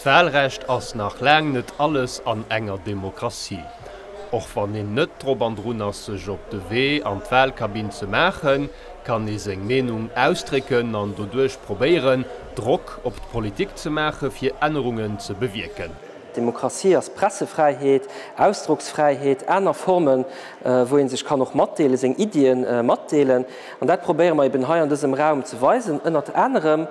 D'Wahlrecht ass nach laang net alles an enger Demokratie. Och wann een net drop an drun ass sech op de Wee an d'Wahlkabinn ze maachen, kann ee seng Meenung ausdrécken an doduerch probéieren Drock op d'Politik ze maache fir Ännerungen ze bewierken. Demokratie ass Pressefräiheet, Ausdrocksfräiheet, aner Formen wou een sech kann och matdeelen, seng Iddien matdeelen. An dat probéiere mer eben hei an dësem Raum ze weisen, ënnert anerem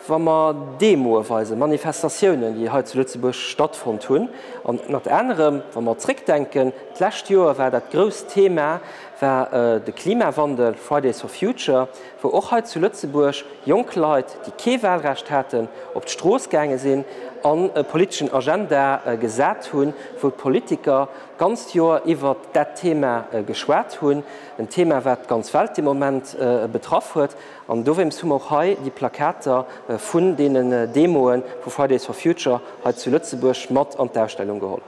wa mer Demoe weisen, Manifestatiounen, déi hei zu Lëtzebuerg stattfonnt hunn, an ënnert anerem wa mer zréckdenken, d'lescht Joer war dat grousst Thema war de Klimawandel, Fridays for Future, wou och hei zu Lëtzebuerg jonk Leit, déi kee Wahlrecht haten, op d'Strooss gaange sinn an e politeschen Agenda gesat hunn, wou d'Politiker d'ganzt Joer iwwert dat Thema geschwat hunn. En Thema wat d'ganz Welt de Moment betraff huet an dowéinst hu mer och hei déi Plakater vun deenen Demoe vu Fridays for Future hei zu Lëtzebuerg mat an d'Ausstellung geholl.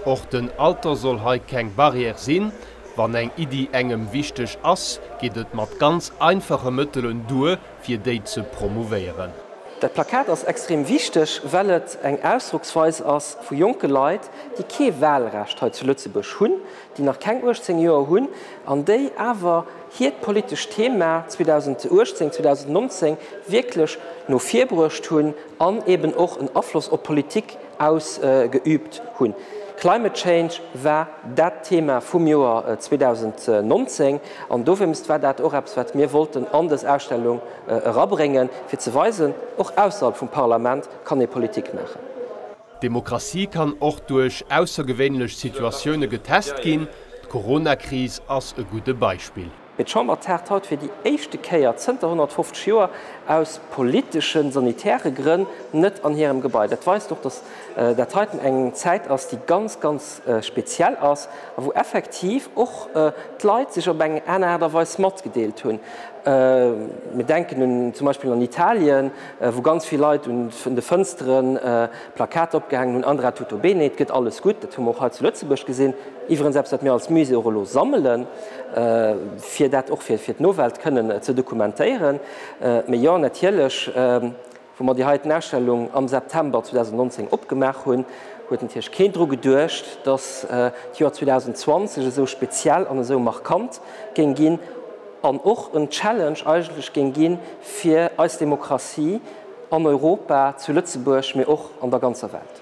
Och den Alter soll hei keng Barrière sinn. Wann eng Iddi engem wichteg ass, geet et mat ganz einfache Mëttelen duer fir déi ze promouvéieren. Dat Plakat ass extrem wichteg, well et eng Ausdrocksweis ass vu jonke Leit, déi kee Wahlrecht hei zu Lëtzebuerg hunn, déi nach keng 18 Joer hunn an déi awer hiert politescht Thema 2018, 2019 wierklech no vir bruecht hunn an eben och en Afloss op d'Politik ausgeübt hunn. Climate change war dat Thema vum Joer 2019 an dowéinst war dat och eppes, wat mir wollten an dës Ausstellung erabréngen, fir ze weisen, och ausserhalb vum Parlament kann ee Politik maachen. D'Demokratie kann och duerch aussergewéinlech Situatioune getest ginn. D'Corona-Kris ass e gudde Beispill. Mee d'Chamber taagt haut fir déi éischte Kéier zënter 150 Joer aus politeschen, sanitäre Grënn net an hirem Gebai. Dat weist och, datt dat heiten eng Zäit ass, déi ganz, ganz speziell ass a wou effektiv och d'Leit sech op eng aner Aart a Weis matgedeelt hunn. Mir denken zum Beispill un Italien. wou ganz vill Leit un de Fënstere Plakater opgehaangen hunn, Andra tutto bene, et gëtt alles gutt. Dat hu mer och hei zu Lëtzebuerg gesinn. Iwwerens eppes, wat mir als Musée och elo sammelen, fir dat och fir d'Nowelt kënnen ze dokumentéieren. Mee jo, natierlech, wou mer déi heiten Ausstellung am September 2019 opgemaach hunn, huet natierlech keen dru geduecht, dass d'Joer 2020 esou speziell an esou markant géing ginn. an och en Challenge eigentlech géing gi fir eis Demokratie an Europa, zu Lëtzebuerg, mee och an der ganzer Welt.